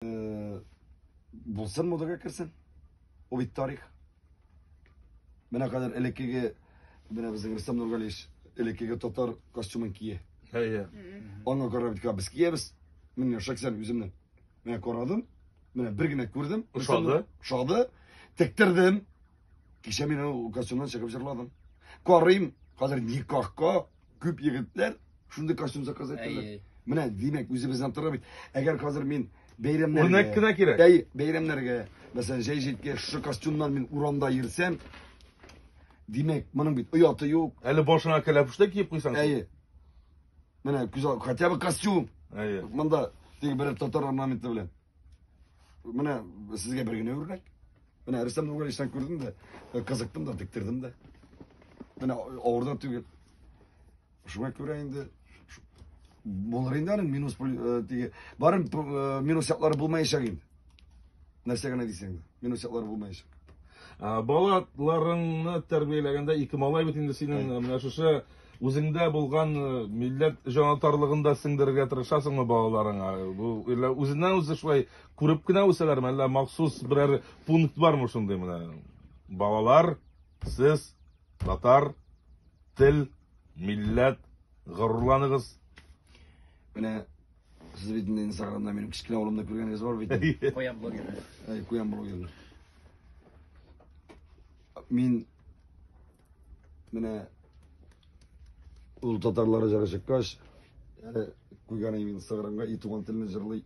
Э, булсын модага керсен. Ул бит тарих. Менә кадәр элеккеге менә безнең Рөстәм Нургалиевич элеккеге татар костюмын кие. Әйе. Аңа карап бит без киябез. Мин шаксән үземне. Менә карадым. Менә бер генә күрдем. Ошады. Ошады. Тектердем. Кичә мин ул костюмнан чыгып җырладым. Карыйм, хәзер никахка күп егетләр шундый костюм заказ итәләр. Менә димәк, үзебезнән тора бит. Әгәр хәзер мин бәйрәмнәргә Үрнәк кенә кирәк. Бәй, бәйрәмнәргә, мәсәлән, җәй җиткә шушы костюмнан мин урамда йөрсәм, димәк, моның бит ояты юк. Әле башыңа кәләпүштә киеп куйсаң. Әйе. Менә күз ал, хотя бы костюм. Әйе. Монда теге бер татар орнаменты белән. Менә сезгә бер генә үрнәк. Менә рәсем түгел исән күрдем дә, кызыктым да, тектердем дә. Менә авырда түгел. Шуңа күрә инде булыр инде аның минус диге. Барым минус яклары булмаячак инде. Нәрсә генә дисәң дә, минус яклары булмаячак. Балаларыңны тәрбияләгәндә ике малай бит инде синең менә шушы Үзеңдә булган милләт җанатарлыгын да сеңдерергә тырышасыңмы балаларыңа? Бу әллә үзеннән-үзе шулай күреп кенә үсәләрме, әллә махсус берәр пункт бармы шундый менә? Балалар, сез татар, тел, милләт, горурланыгыз. Менә сез бит инде инстаграмда минем кечкенә улымны күргәнегез бар бит. Куян блогер. Куян блогер. Мин Менә ул татарлары җыры чыккач, әле куйган мин сыгырымга и туган телне җырлый.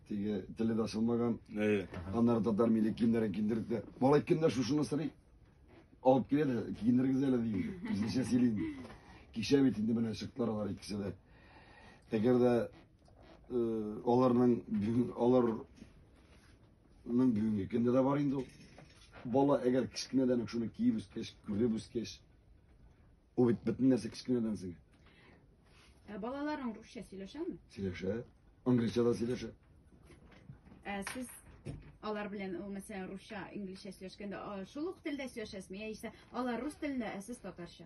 Теге теле дә ачылмаган. Әйе. Аннары татар милли киемнәрен киендердек тә. Малай кемнәр шушыны сорый? Алып килә дә киендергез әле ди. Үзенчә сөйли инде. Кичә бит инде менә чыктылар алар икесе дә. Әгәр дә э, аларның алар Моның бүгенге көндә дә бар инде ул. Бала әгәр кечкенәдән үк шуны киеп үскәч, күреп үскәч, ул бит бөтен нәрсә кечкенәдән сеңә. Ә балаларың русча сөйләшәме? Сөйләшә. Англича да сөйләшә. Ә сез алар белән ул мәсәлән русча, инглизчә сөйләшкәндә а, шул ук телдә сөйләшәсезме? Яисә алар рус телендә, ә сез татарча?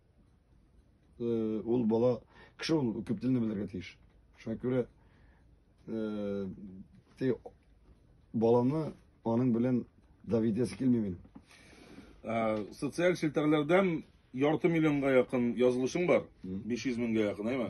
Э, ул бала кеше ул күп телне белергә тиеш шуңа күрә э, те баланы аның белән давидәсе килми мин ә, социаль челтәрләрдән ярты миллионга якын язылышың бар 500 меңгә якын әйме